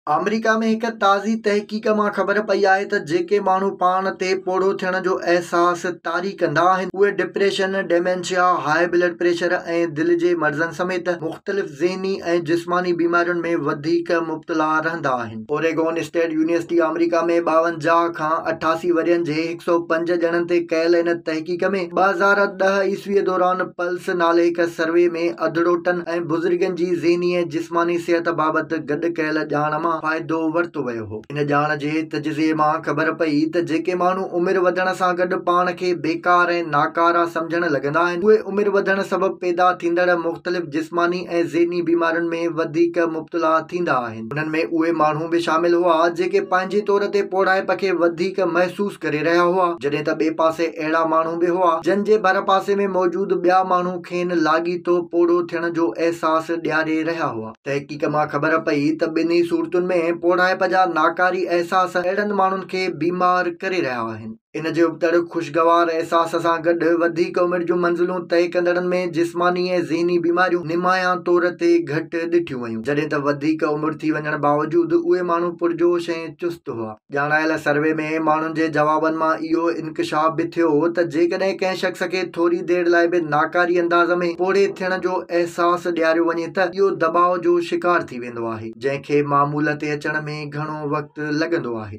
آمريڪا ۾ هڪ تازي تحقيق مان خبر پئي آهي ته جيڪي ماڻهو پاڻ تي پوڙهو ٿيڻ جو احساس طاري ڪندا آهن اهي depression, dementia, high blood pressure ۽ دل جي مرضن سميت مختلف ذهني ۽ جسماني بيمارين ۾ وڌيڪ مبتلا رهندا آهن. اوريگون اسٽيٽ يونيورسٽي آمريڪا ۾ ٻاونجاهه کان اٺاسي ورهين جي هڪ هڪ سؤ پنج ڄڻن تي ڪيل ان تحقيق ۾ ٻه هزار ڏهه عيسويء دوران پلس نالي هڪ سروي ۾ اڌڙوٽن ۽ بزرگن جي ذهني ۽ جسماني صحت بابت گڏ ڪيل ڄاڻ مان فائدو ورتو ويو هو. ان ڄاڻ جي تجزيي مان خبر پئي ته جيڪي ماڻهو عمر وڌڻ سان گڏ پاڻ کي بيڪار ۽ ناڪارا سمجهڻ لڳندا آهن، اهي عمر وڌڻ سبب پيدا ٿيندڙ مختلف جسماني ۽ ذهني بيمارين ۾ وڌيڪ مبتلا ٿيندا آهن. انهن ۾ اهي ماڻهو به شامل هئا جيڪي پنهنجي طور تي پوڙهائپ کي وڌيڪ محسوس ڪري رهيا هئا جڏهن ته ٻئي پاسي اهڙا ماڻهو به هئا جن جي ڀر پاسي ۾ موجود ٻيا ماڻهو کين لاڳيتو پوڙهو ٿيڻ جو احساس ڏياري رهيا هئا. تحقيق مان خبر پئي ته ٻنهي صورتن ۾ پوڙهائپ جا ناڪاري احساس اهڙن ماڻهن کي بيمار ڪري رهيا آهن. ان جي ابتڙ خوشگوار احساس سان گڏ وڌيڪ عمر جون منزلون طئي ڪندڙن ۾ جسماني ۽ ذهني بيماريون نمايان طور تي گهٽ ڏٺيون ويون جڏهن ته وڌيڪ عمر ٿي وڃڻ باوجود اهي ماڻهو پرجوش ۽ چست هئا. ڄاڻايل سروي ۾ ماڻهن جي جوابن مان اهو انڪشاف به ٿيو هو ته جيڪڏهن ڪنهن شخص کي ٿوري دير لاء به ناڪاري انداز ۾ پوڙهي ٿيڻ جو احساس ڏياريو وڃي ته اهو دٻاء جو شڪار ٿي ويندو آهي جنهن کي معمول تي اچڻ ۾ گهڻو وقت لڳندو آهي.